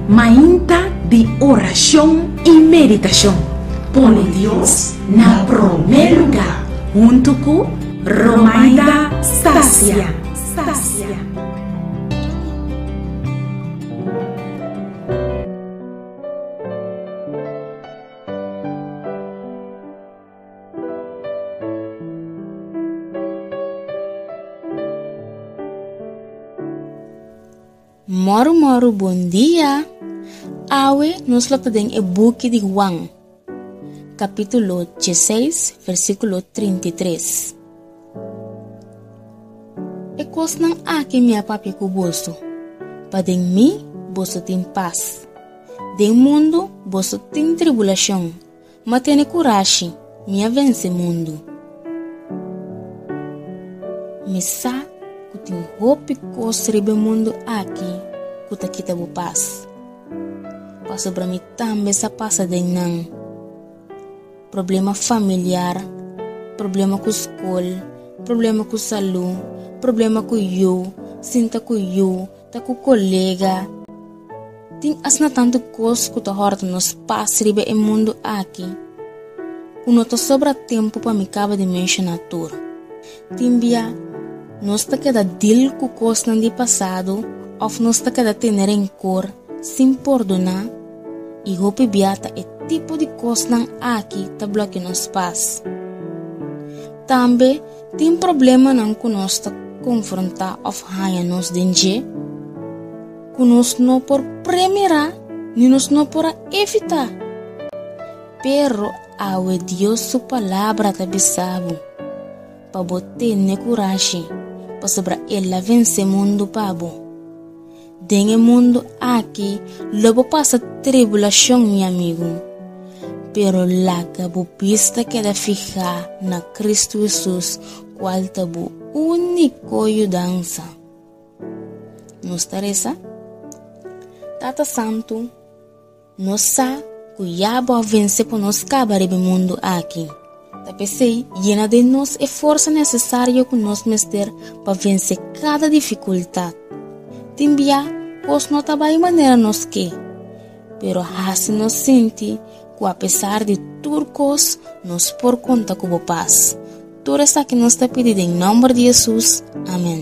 Mainta di orashon i meditashon, pone Dios na promé lugá huntu ku Romaida Stasia. Moru moru bon dia. Awe nos lo ta den e buki di Juan, capítulo 16, versículo 33. E cosnan aki mi a papia cu boso, pa den mi boso tin pas. Den mundo boso tin tribulacion, M a tene kurashi, mi a vense mundu. Mi sa ku tin hopi kos riba e mundu aki ku ta kita bo pas, pasobra mi tambe sa pasa den nan, problema familiar, problema ku skol, problema ku salú, problema ku yu, sinta ku yu, Ta ku kolega. Tin asina tantu kos ku ta hòrta nos pas riba e mundu aki ku no ta sobra tempu pa mi kaba di menshoná tur. Tin bia nos ta keda dil ku kosnan di pasado òf nos ta keda tene renkor sin pordoná i hopi bia ta e tipo di kosnan aki ta blòkia nos pas. Tambe Tin problemanan ku nos ta konfrontá òf haña nos den dje ku nos no por premirá ni nos no por a evitá. Pero awe Dios su Palabra ta bisa bo pa bo tene kurashi, pasobra el a vensé mundu pa bo. Den e mundu aki lo bo pasa tribulacion, mi amigu. Pero laga bo bista keda fihá na Cristo Hesus, cual ta bo único yudansa. Nos ta reza, Tata Santu, Nos sa cu ya bo a vence pa nos caba riba e mundu aki. Ta pesey yena den nos e forsa necesario cu nos mester pa vence cada dificultad. Tin bia cos no ta bay manera nos ke, pero haci nos sinti cu apesar di tur cos nos por conta cu bo paz. Tur esaki nos ta pidi den nomber di Jesus. Amen.